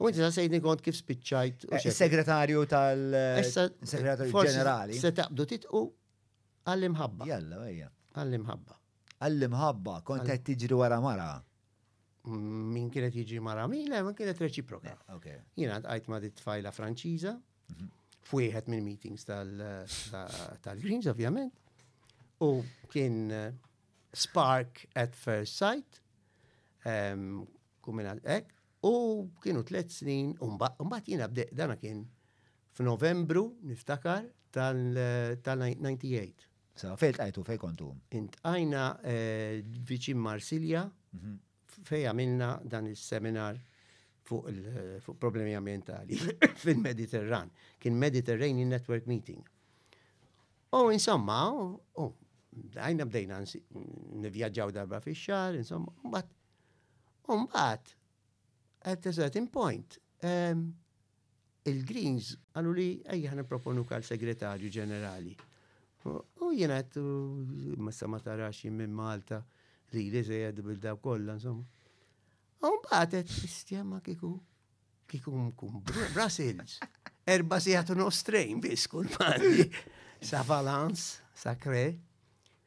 U inti saqsejtni kont kif spiċċajt. Eh, Is-segretarju tal. Segretarju ġenerali. Se taqbdu titqu għall-imħabba. Jalla, ejja. Għall-imħabba. Għall-imħabba, kont qed tiġri wara mara. Mm, min kienet jiġi mara min, le, min kienet reċiproka. Eh, Jiena għajt ma' dit tfajla Franċiża, mhm. fwieħed minn meetings tal-Greens, ovvjament, u kien eh, spark at first sight, ehm, kumina ek, U kienu tliet snin, u mbagħad jiena bdejt dana kien f'Novembru niftakar tal-98. Sa fejn tqajtu fejn kontu? Intqajna eh, viċin Marsilja mhm. fejn għamilna dan is-seminar fuq fuq problemi ambientali fil-Mediterran. Kien Mediterranean Network Meeting. U insomma, u għajna bdejna nivjaġġaw darba fi xar, insomma, bat Umbat, at a certain point, ehm, il-Greens għallu li ejja ħna proponu kal segretarju ġenerali. U jien għat, ma sa ma tarax minn Malta li li zejed bil-daw kollha, insomma. U mbagħad qed sistema kiku kiku mkun Brussels. Erba sigħat u nofs train biss kull mandi. Sa Valence, sa Kre.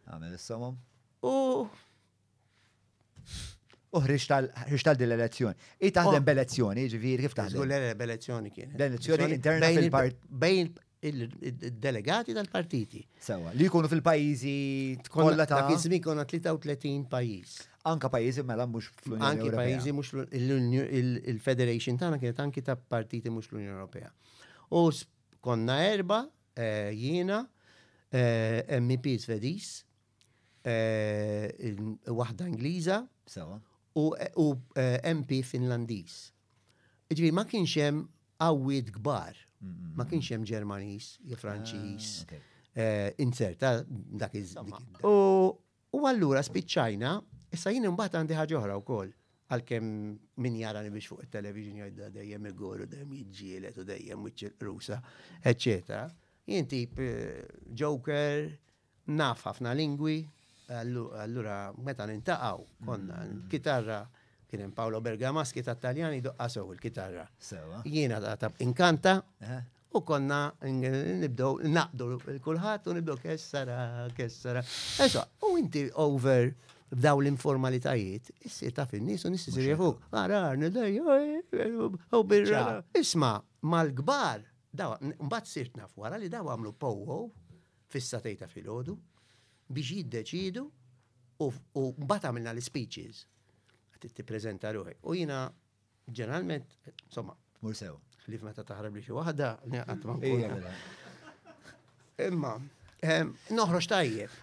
Għamel is-somom. U U ħriġt għal din l-elezzjoni. I taħdem oh. b'elezzjoni, ġifieri kif taħdem? Żgur l b'elezzjoni kien. L-elezzjoni interna fil-part. Bejn il-delegati tal-partiti. Sewa, li jkunu fil-pajjiżi kollha ta' kien żmien konna 33 pajjiż. Anka pajjiżi mela mhux fl-Unjoni Ewropea. Anki pajjiżi mhux il-Federation tagħna kienet anki ta' partiti mhux l-Unjoni Ewropea. U konna erba' eh, jiena eh, MEP Svediż, waħda Ingliża u MP Finlandiż. Ġifieri ma kienx hemm qawwiet kbar, ma kienx hemm Ġermaniż jew Franċiż ah, inzerta dak iż U allura spiċċajna, issa jien imbagħad għandi ħaġa oħra wkoll għalkemm min jarani biex fuq it-television jgħidda dejjem igor u dejjem jiġġielet u dejjem wiċċ rusa, eċċetera. Jien tip eh, joker, Naf ħafna lingwi, allura meta nintaqgħu konna l-kitarra kien hemm Paolo Bergamaschi ta' Taljani doqqa sew il-kitarra. Jiena ta' inkanta u konna nibdew naqdu l-kulħadd u nibdew kessara, kessara. Esa, u inti over b'daw l-informalitajiet, issir ta' fin-nies u nissi sirja fuq. Ara, nidej, u birra. Isma, mal-kbar, daw, mbagħad sirt naf wara li daw għamlu powo fis-satejn ta' filgħodu biex jiddeċiedu u mbagħad għamilna l-speeches. Għad tippreżenta ruħi. U jiena ġeneralment, insomma, mur sew. Ħlif meta taħrab li xi waħda, qatt ma nkun. Imma, ehm, noħroġ tajjeb.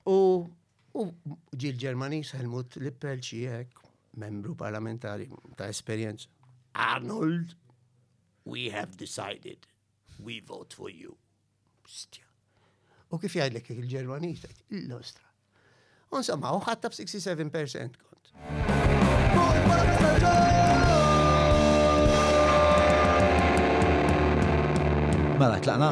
U U ġil ġermanis Helmut Lippel xiek, membru parlamentari ta' esperienz. Arnold, we have decided We vote for you. Bstja. U kif jgħidlek il-Ġermaniż, l-ostra. Insomma, u ħatta b-67% kont. Mela, tlaqna?